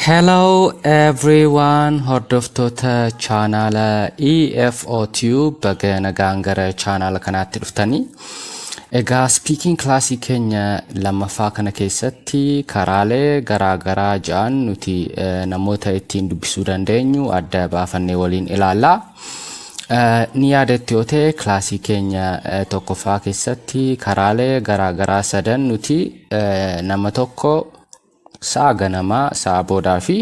Hello everyone hordoftoota chaanaala EFO Tube baga nagaan gara chaanaala kanaatti dhuftanii. Egaa speaking class keenya lammaffaa kana keessatti karaalee garaa garaa ja'an nuti eh, namoota ittiin dubbisuu dandeenyu adda baafannee waliin ilaalla. Eh, Ni yaadatti yoo ta'e kilaasii keenya eh, tokkoffaa keessatti karaalee garaa garaa sadan nuti eh, nama tokko Sa'a ganamaa, sa'a boodaa fi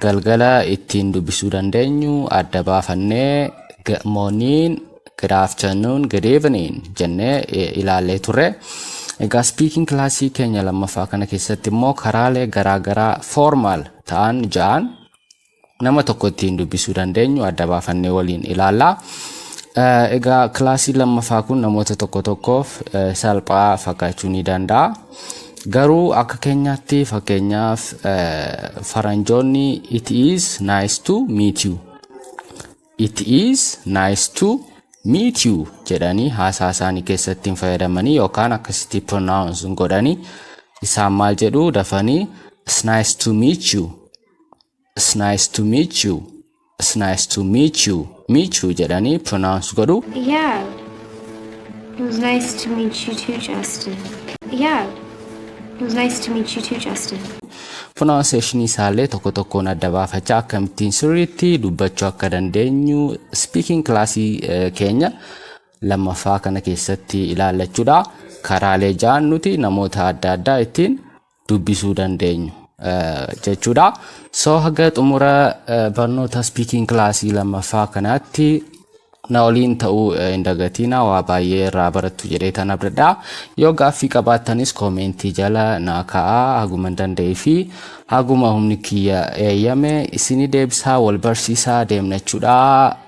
galgala ittiin dubbisuu dandeenyu adda baafannee good morning, good afternoon, good evening jennee ilaallee turre. Egaa speaking kilaasii keenya lammaffaa kana keessatti immoo karaalee garaagaraa formal ta'an ja'an nama tokko ittiin dubbisuu dandeenyu adda baafannee waliin ilaalla. Eh, Egaa kilaasii lammaffaa kun namoota tokko tokkoof eh, salphaa fakkaachuu ni danda'a. Garuu akka keenyaatti fakkeenyaaf eh, faranjoonni it is nice to meet you. It is nice to meet you jedhanii haasaa isaanii keessatti hin fayyadamanii yookaan akkasitti pronounce hin godhanii isaan maal jedhu dafanii it's nice to meet you It's nice to meet you. It's nice to meet you. Meet you jedhanii pronounce godhu. Yeah. It was nice to meet you too, Justin. Yeah. It was nice to meet you too, Justin. Pronunciation isaallee tokko tokkoon adda baafachaa akkamittiin sirriitti dubbachuu akka dandeenyu speaking classii eh, keenya lammaffaa kana keessatti ilaallachuudha. Karaalee ja'an nuti namoota adda addaa ittiin dubbisuu dandeenyu jechuudha. So haga xumura barnoota speaking kilaasii lammaffaa kanaatti na waliin ta'uu hin dagatiina waa baay'ee irraa barattu jedhee tan abdadha. Yoo gaaffii qabaattanis koomeentii jala naa ka'aa haguma danda'ee fi haguma humni kiyya eeyyame isinii deebisaa wal barsiisaa deemna jechuudha.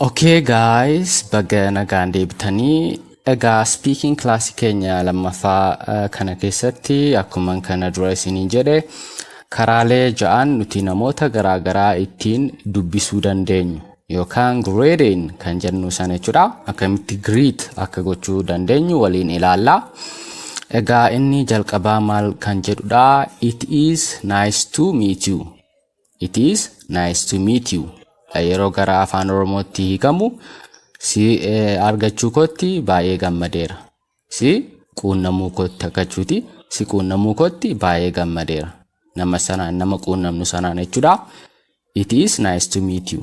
Okay guys, baga nagaan deebitanii. Egaa speaking class keenya lammaffaa eh, kana keessatti akkuma kana dura isiniin jedhe karaalee ja'an nuti namoota garaagaraa ittiin dubbisuu dandeenyu yookaan grading kan jennu sana jechuudha. Akkamitti greet akka gochuu dandeenyu waliin ilaalla. Egaa inni jalqabaa maal kan jedhudha? It is nice to meet you. It is nice to meet you. Yeroo gara afaan Oromootti hiikamu si eh, argachuu kootti baay'ee gammadeera. Si quunnamuu kootti akkachuuti. Si quunnamuu kootti baay'ee gammadeera. Nama sanaan nama quunnamnu sanaan jechuudha. It is nice to meet you.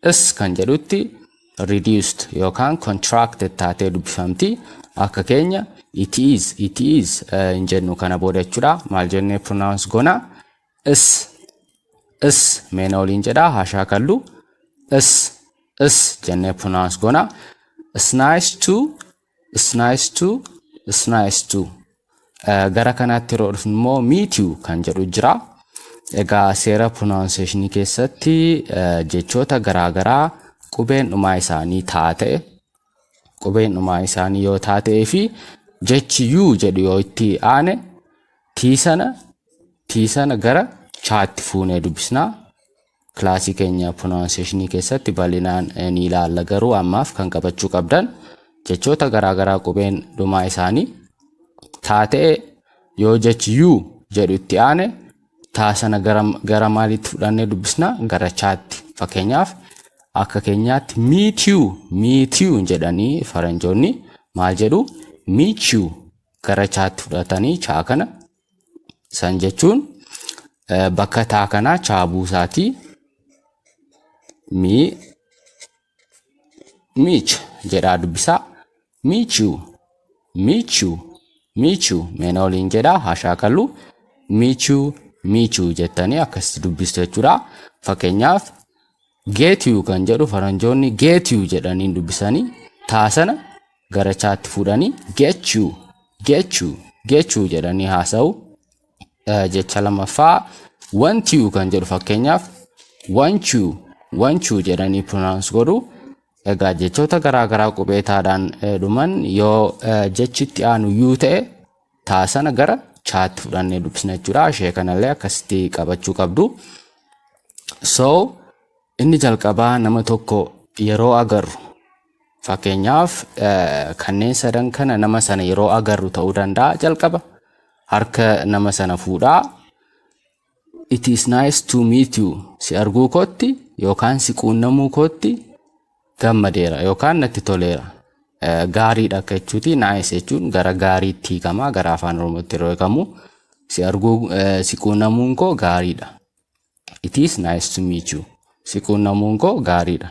This kan jedhutti reduced yookaan contracted taatee dubbifamti. Akka keenya it is, it is eh, hin jennu kana booda jechuudha. Maal jennee pronounce goona? Is, is meena waliin jedha haashaa kallu. Is, is jennee pronounce goona. It's nice to It's nice to, it's nice to. Eh, Gara kanaatti yeroo dhufnu immoo meet you kan jedhu jira. Egaa seera pronunciation keessatti eh, jechoota garaagaraa qubeen dhumaa isaanii taate qubeen dhumaa isaanii yoo taatee fi jechi yuu jedhu yoo itti aane tii sana tii sana gara chaatti fuunee dubbisna. Kilaasii keenya pronunciation keessatti bal'inaan ni ilaalla garuu ammaaf kan qabachuu qabdan jechoota garaagaraa qubeen dhumaa isaanii taa ta'e yoo jechi yuu jedhu itti aane taa sana gara, gara maaliitti fudhannee dubbisna gara chaatti fakkeenyaaf akka keenyaatti miitiu miitiu jedhanii faranjoonni maal jedhu miichiu gara chaatti fudhatanii chaa kana San jechuun eh, bakka taa kanaa chaa buusaati. Mi miich jedhaa dubbisaa. Miichu miichu miichu meena waliin jedhaa haa shaakallu. Miichu miichu jettanii akkasitti dubbistu jechuudha. Fakkeenyaaf Get you kan jedhu faranjoonni get you jedhaniin dubbisanii taa sana gara chaatti fuudhanii get you get you get you jedhanii haasa'u. Eh, Jecha lammaffaa want you kan jedhu fakkeenyaaf want you want you jedhanii pronounce godhu. Egaa jechoota garaagaraa qubee taadhaan eh, dhuman yoo eh, jechi itti aanu you ta'e taa sana gara chaatti fudhannee dubbisna jechuudha ishee kanallee akkasitti qabachuu qabdu so inni jalqabaa nama tokko yeroo agarru fakkeenyaaf eh, kanneen sadan kana nama sana yeroo agarru ta'uu danda'a jalqaba harka nama sana fuudhaa It is nice to meet you. Si arguu kootti yookaan si quunnamuu kootti gammadeera yookaan natti toleera. Eh, Gaariidha akka jechuuti. Nice jechuun gara gaariitti hiikama. Gara afaan Oromootti yeroo hiikamu si arguu eh, si quunnamuun koo gaariidha. It is nice to meet you. Si quunnamuun koo gaariidha.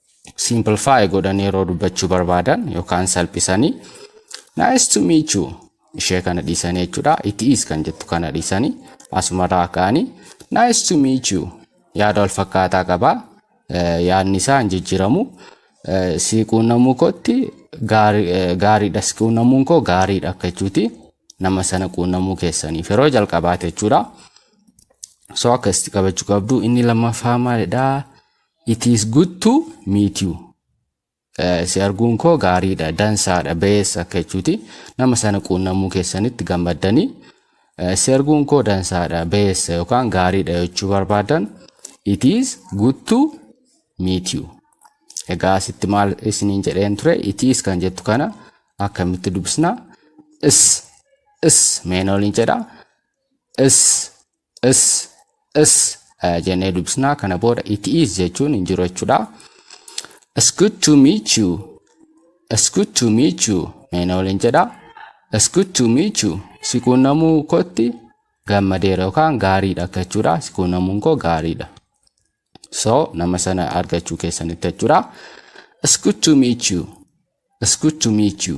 simplify godhanii yeroo dubbachuu barbaadan yookaan salphisanii nice to meet you ishee kana dhiisanii jechuudha it is kan jettu kana dhiisanii asumarraa ka'anii nice to meet you yaada wal fakkaataa qabaa Eh, yaadni isaa hin jijjiiramu Eh, si quunnamuu kootti gaari- eh, gaariidha si quunnamuun koo gaariidha akka jechuuti nama sana quunnamuu keessaniif yeroo jalqabaate jechuudha. So akka itti qabachuu qabdu inni lammaffaa maalidha? It is good to meet you. Eh, Si arguun koo gaariidha, dansaadha, bees akka jechuuti. Nama sana quunnamuu keessanitti gammaddanii eh, si arguun koo dansaadha, bees yookaan gaariidha jechuu barbaadan it is good to meet you. Egaa asitti maal isiniin jedheen ture it is kan jettu kana akkamitti dubbisna? Is is meen oliin jedha. Is is is eh, jennee dubbisna kana booda it is jechuun hin jiru jechuudha it's good to meet you it's good to meet you mee na waliin jedha it's good to meet you si quunnamuu kootti gammadeera yookaan gaariidha akka jechuudha si quunnamuun koo gaariidha so nama sana argachuu keessanitti jechuudha it's good to meet you it's good to meet you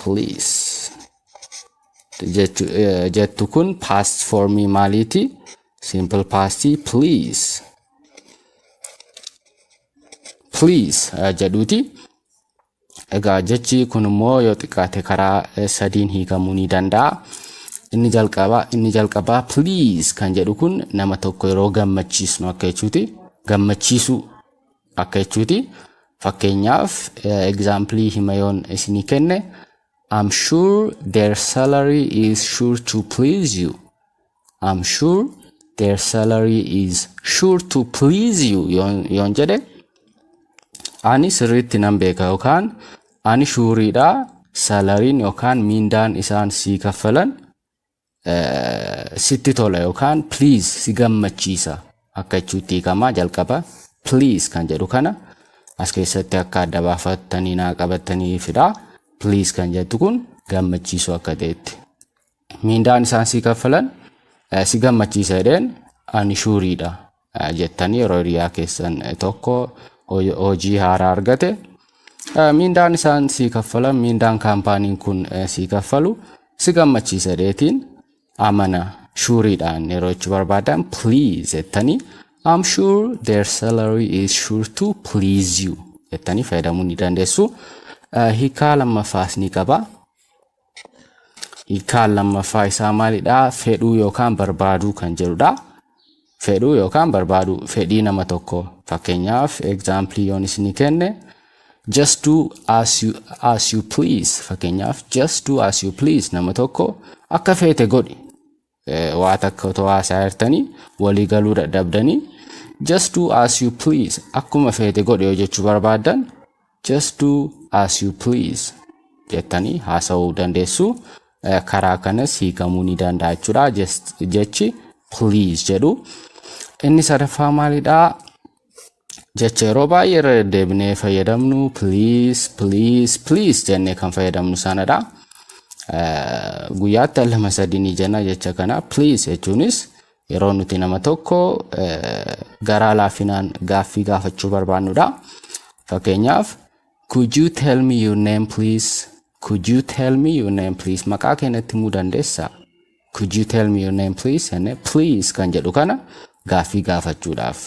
please jechu- eh, jettu kun past formii maaliiti simple past please please eh, jedhuuti egaa jechi kun immoo yoo xiqqaate karaa eh, sadiin hiikamuu ni danda'a inni jalqabaa inni jalqabaa please kan jedhu kun nama tokko yeroo gammachiisnu akka jechuuti gammachiisuu Akka jechuuti fakkeenyaaf example hima yoon isinii kenne I'm sure their salary is sure to please you. I'm sure their salary is sure to please you yoon, yoon jedhe ani sirriitti nan beeka yookaan ani shuuriidha salariin yookaan miindaan isaan sii kaffalan eh, sitti tola yookaan please si gammachiisa akka jechuutti hiikamaa jalqaba please kan jedhu kana as keessatti akka adda baafattanii naa qabattanii fidha please kan jettu kun gammachiisuu akka ta'etti miindaan isaan si kaffalan eh, si gammachiisa jedheen ani shuuriidha jettanii yeroo hiriyaa keessan tokko hoj- hojii haaraa argate eh, miindaan isaan sii kaffalan miindaan kaampaaniin kun eh, sii kaffalu si gammachiisa deetiin amana shuuriidhaan yeroo ichi barbaadan please jettanii I'm sure their salary is sure to please you jettanii fayyadamuu ni dandeessu. Eh, Hiikaa lammaffaas ni qaba. Hiikaan lammaffaa isaa maalidha? Fedhuu yookaan barbaaduu kan jedhudha. Fedhuu yookaan barbaaduu fedhii nama tokko fakkeenyaaf egzaampilii yoon isinii kenne just do as you, as you please fakkeenyaaf just do as you please nama tokko akka feete godhi waa takka otoo haasaa jirtanii walii galuu dadhabdanii just do as you please akkuma feete godhe yoo jechuu barbaaddan just do as you please jettanii haasa'uu dandeessu Eh, karaa kanas hiikamuu ni danda'a jechuudha Just- jechi please jedhu inni sadaffaa maalidha Jecha yeroo baay'ee irra deddeebinee fayyadamnu please please please jennee kan fayyadamnu sanadha. Eh, Guyyaatti al lama sadii ni jenna jecha kana please jechuunis yeroo nuti nama tokko eh, garaa laafinaan gaaffii gaafachuu barbaannudha. Fakkeenyaaf could you tell me your name please? Could you tell me your name please? Maqaa kee natti himuu dandeessaa? Could you tell me your name please? Jennee please kan jedhu kana gaaffii gaafachuudhaaf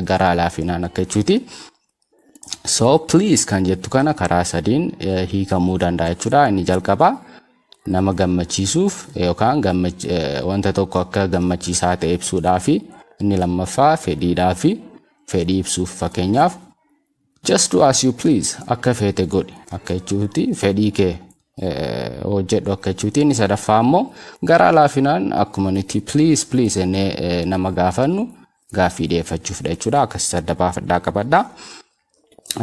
garaa laafinaan akka jechuuti. So please kan jettu kana karaa sadiin hiikamuu danda'a jechuudha. Inni jalqabaa nama gammachiisuuf yookaan wanta tokko akka gammachiisaa ta'e ibsuudhaafi inni lammaffaa fedhiidhaafi fedhii ibsuuf fakkeenyaaf just do as you please akka feete godhi akka jechuuti fedhii kee hojjedhu akka jechuuti inni sadaffaa immoo garaa laafinaan akkuma nuti please please jennee nama gaafannu gaaffii dhiyeeffachuufidha jechuudha akkasitti adda baafadhaa qabadha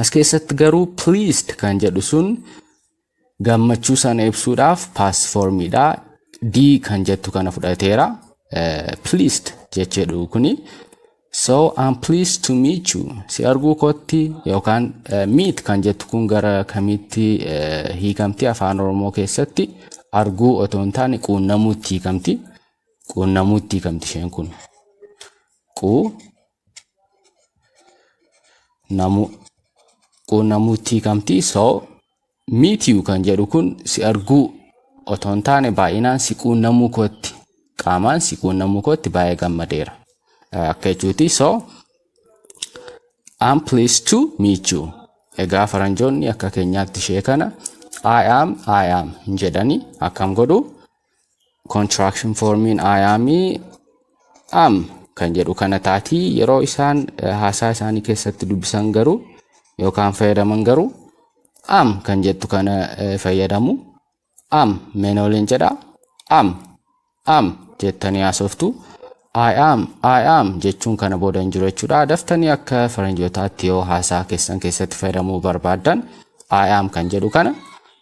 as keessatti garuu pleased kan jedhu sun gammachuu sana ibsuudhaaf past formiidha d kan jettu kana fudhateera eh, pleased jechuudha kuni so I'm pleased to meet you si arguu kootti yookaan eh, meet kan jettu kun gara kamitti eh, hiikamti afaan oromoo keessatti arguu otoo hin taane quunnamuutti hiikamti quunnamuu itti hiikamti isheen kun. Quu namuu quunnamuu itti hiikamti so miitiyu kan jedhu kun si arguu otoo hin taane baay'inaan si quunnamuu kootti qaamaan si quunnamuu kootti baay'ee gammadeera eh, akka jechuuti so I'm pleased to meet you. Egaa faranjoonni akka keenyaatti ishee kana I am I am hin jedhani akkam godhu Contraction formiin aayaamii am kan jedhu kana taatii yeroo isaan eh, haasaa isaanii keessatti dubbisan garuu yookaan fayyadaman garuu am kan jettu kana eh, fayyadamu am menooliin jedha am am jettanii haasoftu I am I am jechuun kana booda hin jiru jechuudha daftanii akka faranjootaatti yoo haasaa keessan keessatti fayyadamuu barbaaddan I am kan jedhu kana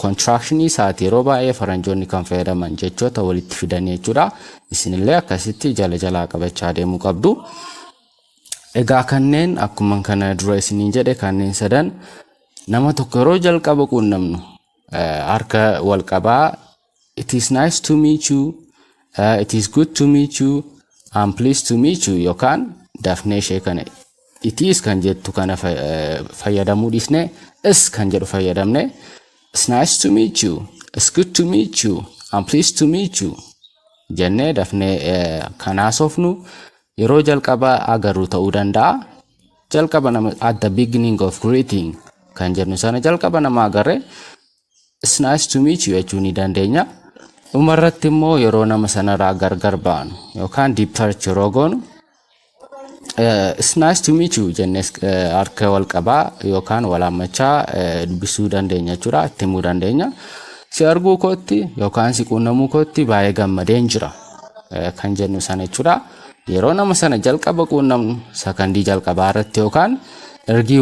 Contraction isaati yeroo baay'ee faranjoonni kan fayyadaman jechoota walitti fidanii jechuudha. Isinillee akkasitti jala jalaa qabachaa deemuu qabdu. Egaa kanneen akkuma kana dura isiniin jedhe kanneen sadan nama tokko yeroo jalqaba quunnamnu harka wal qabaa It is nice to meet you, uh, it is good to meet you, I'm pleased to meet you yookaan dafnee ishee kana it is kan jettu kana fa- eh, fayyadamuu dhiisnee is kan jedhu fayyadamne it's nice to meet you, it's good to meet you, I'm pleased to meet you jennee dafnee eh, kan haasofnu yeroo jalqaba agarru ta'uu danda'a. Jalqaba nama at the beginning of greeting kan jennu sana jalqaba nama agarre It's nice to meet you jechuu ni dandeenya. Dhuma irratti immoo yeroo nama sanarraa gargar baanu yookaan departure yeroo goonu eh, it's nice to meet you jennees eh, harka wal qabaa yookaan wal hammachaa eh, dubbisuu dandeenya jechuudha itti himuu dandeenya. Si arguu kootti yookaan si quunnamuu kootti baay'ee gammadeen jira eh, kan jennu sana jechuudha. Yeroo nama sana jalqaba quunnamnu sakandii jalqabaa irratti yookaan ergii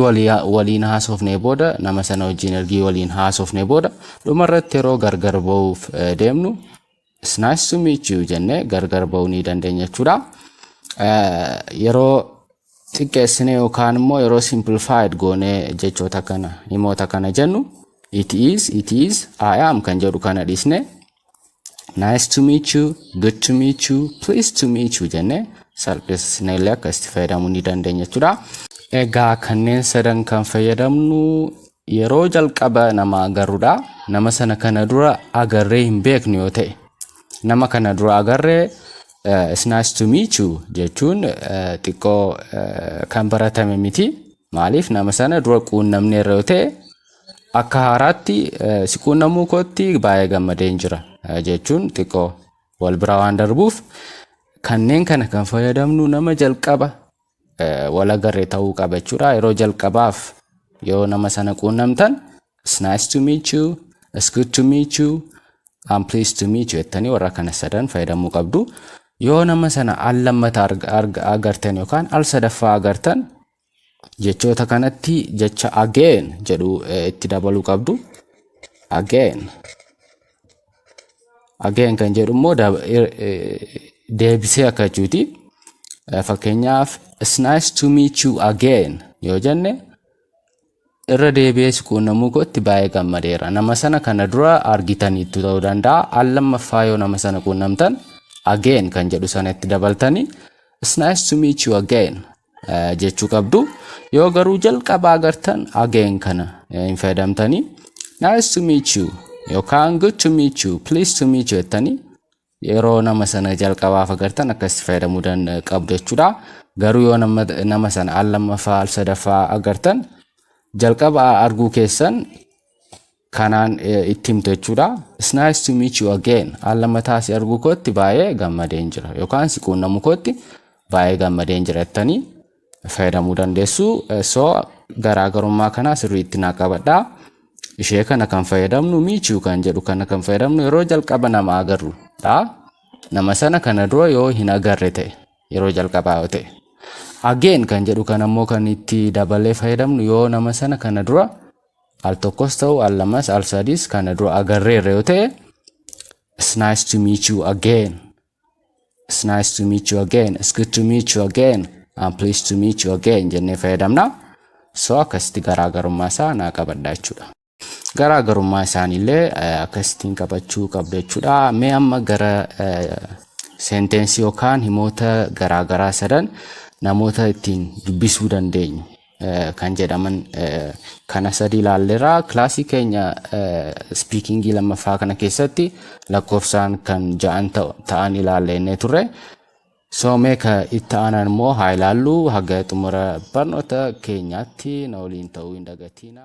waliin haasofnee booda nama sana wajjin ergii waliin haasofnee booda dhuma irratti yeroo gargar ba'uuf deemnu it's nice to meet you jennee gargar ba'uu ni dandeenya jechuudha. Yeroo xiqqeessine yookaan immoo yeroo simplified goonee jechoota kana himoota kana jennu it is it is I am kan jedhu kana dhiisne nice to meet you good to meet you please to meet you jenne salphisne illee akka itti fayyadamuu ni dandeenya jechuudha. Egaa kanneen sadan kan fayyadamnu yeroo jalqaba nama agarrudha. Nama sana kana dura agarree hin beeknu yoo ta'e nama kana dura agarree eh, it's nice to meet you jechuun eh, xiqqoo eh, kan baratame miti. Maaliif nama sana dura quunnamneerra yoo ta'e Akka haaraatti si quunnamuu kootti baay'ee gammadeen jira jechuun xiqqoo wal bira waan darbuuf kanneen kana kan fayyadamnu nama jalqaba wal agarre ta'uu qaba jechuudha. Yeroo jalqabaaf yoo nama sana quunnamtan it's nice to meet you, it's good to meet you, I'm pleased to meet you jettanii warra kana sadan fayyadamuu qabdu. Yoo nama sana al lammata agartan yookaan al sadaffaa agartan Jechoota kanatti jecha again jedhu eh, itti dabaluu qabdu. Again. Again kan jedhu immoo dab- ir- eh, deebisee akka jechuuti. Eh, Fakkeenyaaf it's nice to meet you again yoo jenne irra deebi'ee si quunnamuu kootti baay'ee gammadeera. Nama sana kana dura argitaniittu ta'uu danda'a. Al lammaffaa yoo nama sana quunnamtan again kan jedhu sana itti dabaltanii it's nice to meet you again jechuu qabdu yoo garuu jalqaba agartan again kana hin fayyadamtanii nice to meet you yookaan good to meet you please to meet you jettanii yeroo nama sana jalqabaaf agartan akkasitti fayyadamuu qabdu jechuudha garuu yoo nama sana al lammaffaa al sadaffaa agartan jalqaba arguu keessan kanaan itti himte jechuudha. It's nice to meet you again. Al lammataa si arguu kootti baay'ee gammadeen jira yookaan si quunnamu kootti baay'ee gammadeen jira jettanii fayyadamuu dandeessu. So garaagarummaa kana sirriitti naa qabadha. Ishee kana kan fayyadamnu meet you kan jedhu kana kan fayyadamnu yeroo jalqaba nama agarru dha. Nama sana kana dura yoo hin agarre ta'e yeroo jalqabaa yoo ta'e. Again kan jedhu kana immoo kan itti dabalee fayyadamnu yoo nama sana kana dura al tokkos ta'u al lamas al sadis kana dura agarreerra yoo ta'e it's nice to meet you again it's nice to meet you again it's good to meet you again I'm pleased to meet you again jennee fayyadamna so akkasitti garaagarummaa isaa naa qabadha jechuudha. Garaagarummaa isaaniillee akkasittiin qabachuu qabda jechuudha. Mee amma gara seentensii yookaan himoota garaagaraa sadan namoota ittiin dubbisuu dandeenyu kan jedhaman kana sadi ilaalleera. Kilaasii keenya spiikingii lammaffaa kana keessatti lakkoofsaan kan ja'an ta'an ilaallennee turre. So mee ka itti aanan immoo haa ilaallu haga xumura barnoota keenyaatti na waliin ta'uu hin dagatiina.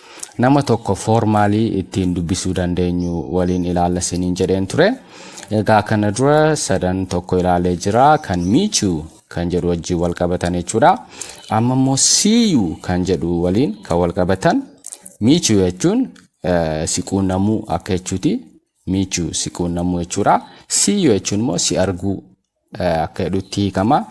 Nama tokko formally ittiin dubbisuu dandeenyu waliin ilaalla isiniin jedheen ture. Egaa kana dura sadan tokko ilaalee jira kan meet you kan jedhu wajjin wal qabatan jechuudha. Amma immoo see you kan jedhu waliin kan wal qabatan meet you jechuun eh, si quunnamuu akka jechuuti. Meet you si quunnamuu jechuudha. See you jechuun immoo si arguu akka jedhutti hiikama.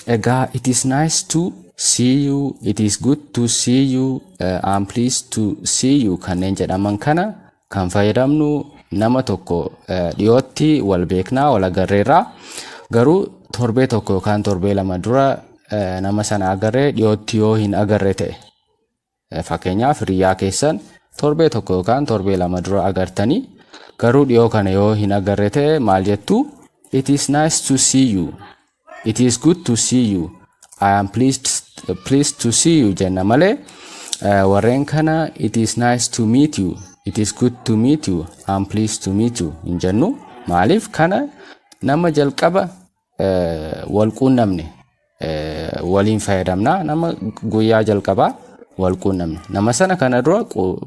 Egaa it is nice to see you, it is good to see you, uh, I'm pleased to see you kanneen jedhaman kana kan fayyadamnu nama tokko uh, dhiyootti wal beeknaa wal agarreerra garuu torbee tokko yookaan torbee lama dura uh, nama sana agarree dhiyootti yoo hin agarre ta'e Fakkeenyaaf hiriyyaa keessan torbee tokko yookaan torbee lama dura agartanii garuu dhiyoo kana yoo hin agarre ta'e maal jettu? It is nice to see you. It is good to see you. I am pleased, pleased to see you jenna malee eh, warreen kana it is nice to meet you. It is good to meet you. I am pleased to meet you hin jennu. Maaliif kana nama jalqaba wal quunnamne waliin fayyadamna nama guyyaa jalqabaa wal quunnamne nama sana kana dura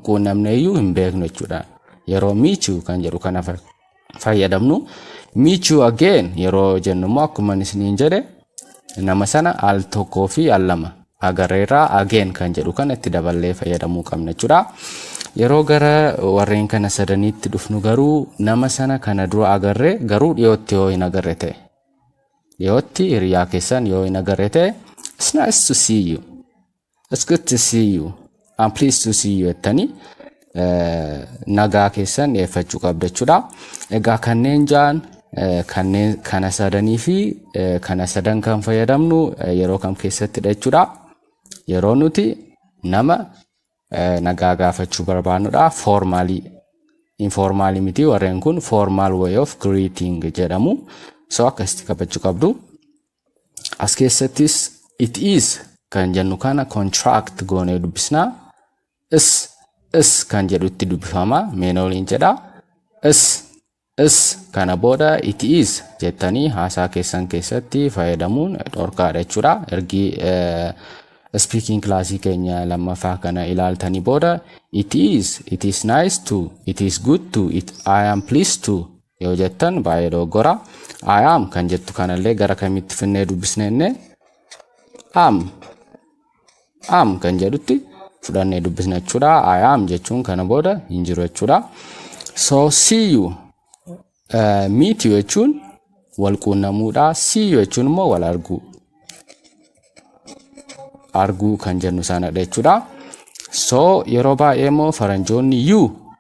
quunnamne iyyuu hin beeknu jechuudha yeroo miichuu kan jedhu kana fayyadamnu miichuu again yeroo jennu immoo akkuma isiniin jedhe nama sana al tokkoo fi al lama agarreerra. Again kan jedhu kana itti daballee fayyadamuu qabna jechuudha. Yeroo gara warreen kana sadaniitti dhufnu garuu nama sana kana dura agarre garuu dhiyootti yoo hin agarre ta'e. Dhiyootti hiriyaa keessan yoo hin agarre ta'e it's nice to see you. It's good to see you. I'm pleased to see you jettanii eh, nagaa keessan dhiyeeffachuu qabda jechuudha. Egaa kanneen ja'an eh, kanneen kana sadanii fi eh, kana sadan kan fayyadamnu eh, yeroo kam keessattidha jechuudha. Yeroo nuti nama eh, nagaa gaafachuu barbaannudha. Foormaalii informaalii miti warreen kun formal way of greeting jedhamu. So akkasitti qabachuu qabdu. As keessattis it is kan jennu kana contract goonee dubbisna. Is is kan jedhutti dubbifama meena waliin jedha. Is is kana booda it is jettanii haasaa keessan keessatti fayyadamuun dhorkaadha jechuudha. Ergi speaking classii keenya lammaffaa kana ilaaltanii booda it is, it is nice to, it is good to, it, I am pleased to yoo jettan baay'ee dogoggora. I am kan jettu kanallee gara kamitti finnee dubbisne innee? Am. Am kan jedhutti fudhannee dubbisna jechuudha. I am jechuun kana booda hin jiru jechuudha. So see you. Uh, meet you jechuun wal quunnamuudha. See you jechuun immoo wal arguu. Arguu kan jennu sanadha jechuudha. So yeroo baay'ee immoo faranjoonni you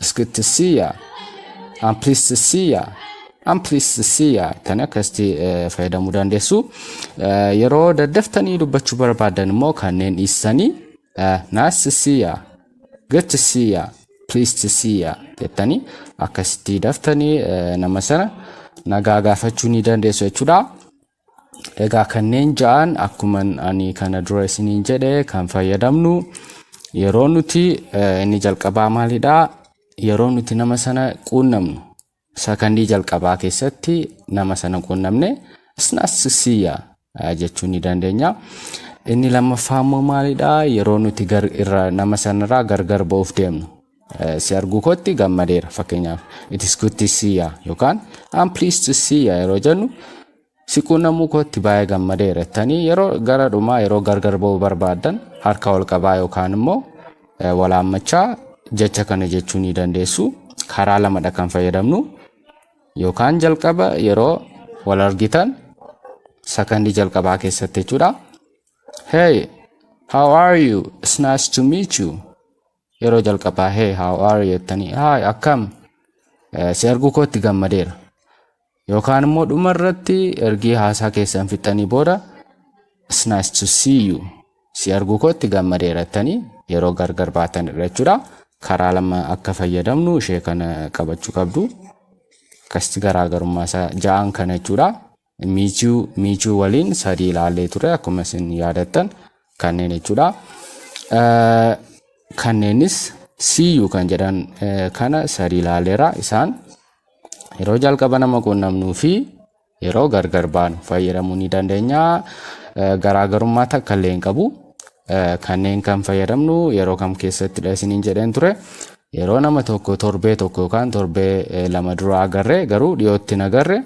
It's good to see ya. I'm pleased to see ya. I'm pleased to see ya. Kan akkasitti eh, fayyadamuu dandeessu. Eh, Yeroo daddaftanii dubbachuu barbaadan immoo kanneen dhiistanii eh, nice to see ya. Good to see ya. Pleased to see ya. Jettanii akkasitti daftanii eh, nama sana nagaa gaafachuu ni dandeessu jechuudha. Egaa kanneen ja'an akkuma ani kana dura isiniin jedhe kan fayyadamnu yeroo nuti eh, inni jalqabaa maalidha yeroo nuti nama sana quunnamnu sakandii jalqabaa keessatti nama sana quunnamne snassisiya jechuu ni dandeenya. Inni lammaffaa immoo maalidha yeroo nuti gar, irra, nama sanarraa gargar ba'uuf deemnu Si arguu kootti gammadeera fakkeenyaaf it is good to see ya yookaan I'm pleased to see ya yeroo jennu si quunnamuu kootti baay'ee gammadeera jettanii yeroo gara dhumaa yeroo gargar ba'uu barbaaddan harka wal qabaa yookaan immoo eh, wal haammachaa jecha kana jechuu ni dandeessu karaa lamadha kan fayyadamnu yookaan jalqaba yeroo wal argitan sakandii jalqabaa keessatti jechuudha. Hey, how are you? It's nice to meet you. Yeroo jalqabaa hey how are you jettanii hi akkam eh, si arguu kootti gammadeera. Yookaan immoo dhuma irratti ergii haasaa keessan fixxanii booda it's nice to see you si arguu kootti gammadeera jettanii yeroo gargar baatan irra jechuudha. Karaa lama akka fayyadamnu ishee kana qabachuu qabdu. Akkasitti garaagarummaa isaa ja'an kana jechuudha. Miichuu Miichuu waliin sadii ilaallee ture akkuma isin yaadattan kanneen jechuudha. Kanneenis siiyyuu kan jedhan kana sadii ilaalleera isaan yeroo jalqaba nama quunnamnuu fi yeroo gargar baanu fayyadamuu ni dandeenya. Garaagarummaa takka illee hin qabu. Kanneen kan fayyadamnu yeroo kam keessattidha isiniin jedheen ture. Yeroo nama tokko torbee tokko yookaan torbee lama dura agarre garuu dhiyootti hin agarre.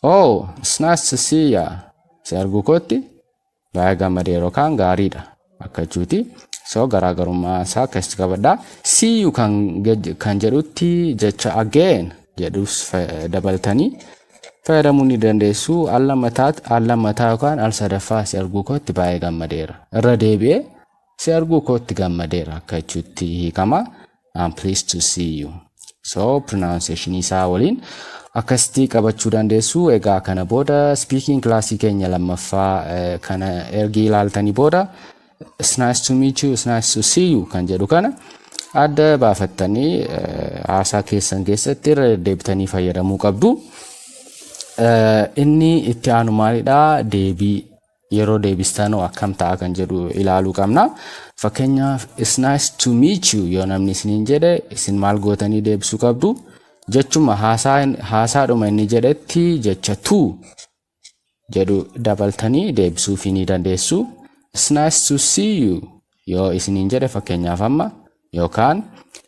Oh, it's nice to see ya. Si arguu kootti baay'ee gammadee yeroo kaan gaariidha akka jechuuti. So garaagarummaa isaa keessatti qabadha. See you kan, gej- kan jedhutti jecha again jedhus fa- dabaltanii fayyadamuu ni dandeessu. Al lammataa al lammataa yookaan al sadaffaa si arguu kootti baay'ee gammadeera. Irra deebi'ee si arguu kootti gammadeera akka jechuutti hiikama. I'm pleased to see you. So pronunciation isaa waliin akkasitti qabachuu dandeessu. Egaa kana booda speaking class keenya lammaffaa eh, kana ergi ilaaltanii booda it's nice to meet you, it's nice to see you kan jedhu kana adda baafattanii eh, haasaa keessan keessatti irra deddeebitanii fayyadamuu qabdu. Eh, Inni itti aanu maalidha? Deebii Yeroo deebistanoo akkam ta'a kan jedhu ilaaluu qabna. Fakkeenyaaf it's nice to meet you yoo namni isiniin jedhe isin maal gootanii deebisuu qabdu? Jechuma haasaa haasaadhuma inni jedhetti jecha to jedhu dabaltanii deebisuufii ni dandeessu. It's nice to see you yoo isiniin jedhe fakkeenyaaf amma yookaan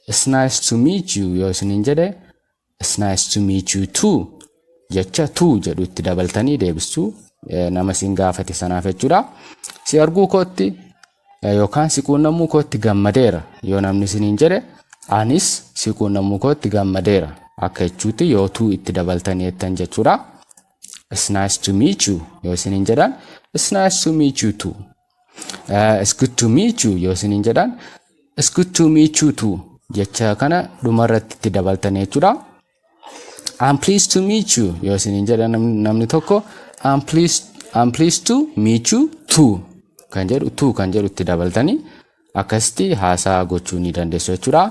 it's nice to meet you yoo isiniin jedhe It's nice to meet you too jecha too jedhu itti dabaltanii deebistu nama isin gaafate sanaaf jechuudha. Si arguu kootti yookaan si quunnamuu kootti gammadeera yoo namni isiniin jedhe anis si quunnamuu kootti gammadeera akka jechuutti yoo too itti dabaltanii jettan jechuudha. It's nice to meet you yoo isiniin jedhan It's nice to meet you too It's good to meet you yoo isiniin jedhaan It's good to meet you too jecha kana dhumarratti itti dabaltanii jechuudha. I'm pleased to meet you yoo isiniin jedhan namni tokko I'm pleased, I'm pleased to meet you too kan jedhu too kan jedhu itti dabaltanii akkasitti haasaa gochuu ni dandeessu jechuudha.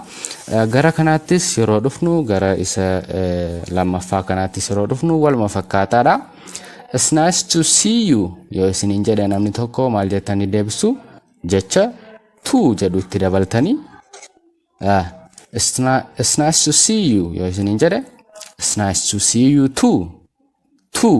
Gara kanaattis yeroo dhufnu gara isa lammaffaa kanaattis yeroo dhufnu waluma fakkaataadha. It's nice to see you yoo isiniin jedhe namni tokko maal jettanii deebistu jecha to jedhu itti dabaltanii It's nice to see you yoo isiniin jedhe It's nice to see you too too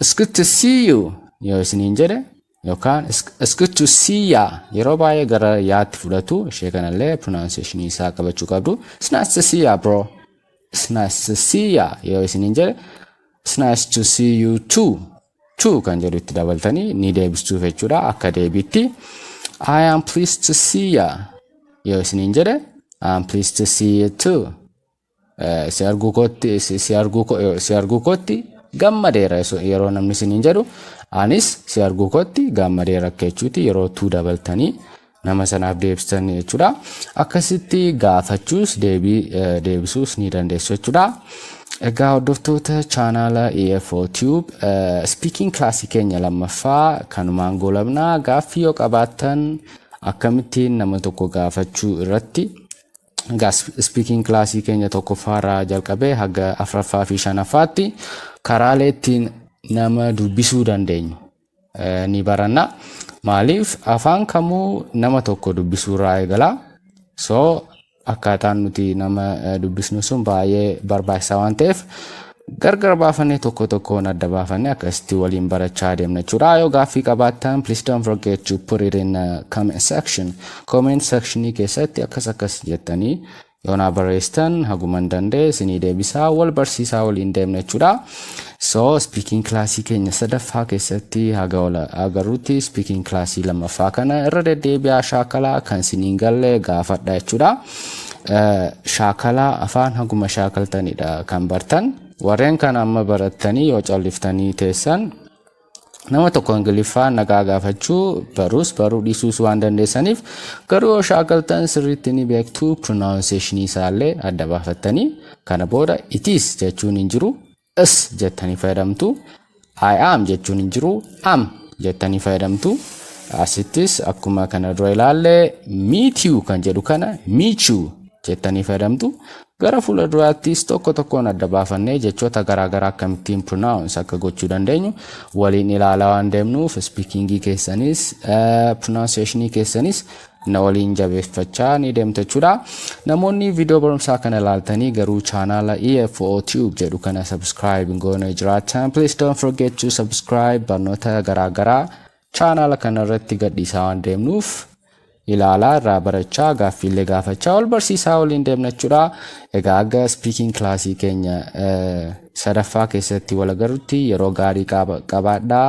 It's good to see you yoo isiniin jedhe yookaan it's it's good to see ya yeroo baay'ee gara yaatti fudhatu ishee kanallee pronunciation isaa qabachuu qabdu. It's nice to see ya bro. It's nice to see ya yoo isiniin jedhe it's nice to see you too. Too kan jedhu itti dabaltanii ni deebistuuf jechuudha akka deebiitti. I am pleased to see ya yoo isiniin jedhe I am pleased to see you too. si arguu kootti si- si arguu ko- eh, si arguu kootti gammadeera yesu- yeroo namni isiniin jedhu anis si arguu kootti gammadeera akka jechuuti yeroo tuu dabaltanii nama sanaaf deebistan jechuudha akkasitti gaafachuus deebii eh, deebisuus ni dandeessu jechuudha egaa hordoftoota chaanaala EFO Tube eh, speaking class keenya lammaffaa kanumaan goolabnaa gaaffii yoo qabaattan akkamittiin nama tokko gaafachuu irratti Egaa speaking class keenya tokkoffaa irraa jalqabee haga afraffaa fi shanaffaatti karaalee ittiin nama dubbisuu dandeenyu eh, ni baranna. Maaliif afaan kamuu nama tokko dubbisuu irraa eegala. So akkaataan nuti nama eh, dubbisnu sun baay'ee barbaachisaa waan ta'eef Gargar baafannee tokko tokkoon adda baafannee akkasitti waliin barachaa adeemna jechuudha. Yoo gaaffii qabaattan please don't forget to put it in uh, comment section. Comment sectionii keessatti akkas akkas jettanii yoo naa barreessitan haguman danda'e isinii deebisaa wal barsiisaa waliin deemna jechuudha. So speaking classii keenya sadaffaa keessatti haga wal agarrutti speaking classii lammaffaa kana irra deddeebi'aa shaakalaa kan isiniin galle gaafadha jechuudha. Shaakala afaan haguma shaakaltanidha kan bartan. Warreen kana amma barattanii yoo calliftanii teessan nama tokko ingiliffaa nagaa gaafachuu baruus baruu dhiisuus waan dandeessaniif garuu yoo shaakaltan sirriitti ni beektu pronunciation isaallee adda baafattanii kana booda it is jechuun hin jiru is jettanii fayyadamtu I am jechuun hin jiru am jettanii fayyadamtu asittis akkuma kana dura ilaalle meet you kan jedhu kana meet you jettanii fayyadamtu gara fuula duraattis tokko tokkoon adda baafannee jechoota garaagaraa akkamittiin pronounce akka gochuu dandeenyu waliin ilaalaa waan deemnuuf speakingii keessanis pronunciationii keessanis na waliin jabeeffachaa ni deemtu jechuudha. Namoonni viidiyoo barumsaa kana ilaaltanii garuu chaanaala EFO Tube jedhu kana subscribe hin goone jiraatan please don't forget to subscribe barnoota garaagaraa chaanaala kana irratti gadhiisaa waan deemnuuf ilaalaa irraa barachaa gaaffiillee gaafachaa wal barsiisaa waliin deemna jechuudha. Egaa aga speaking kilaasii keenya sadaffaa keessatti wal agarrutti yeroo gaarii qabaadhaa.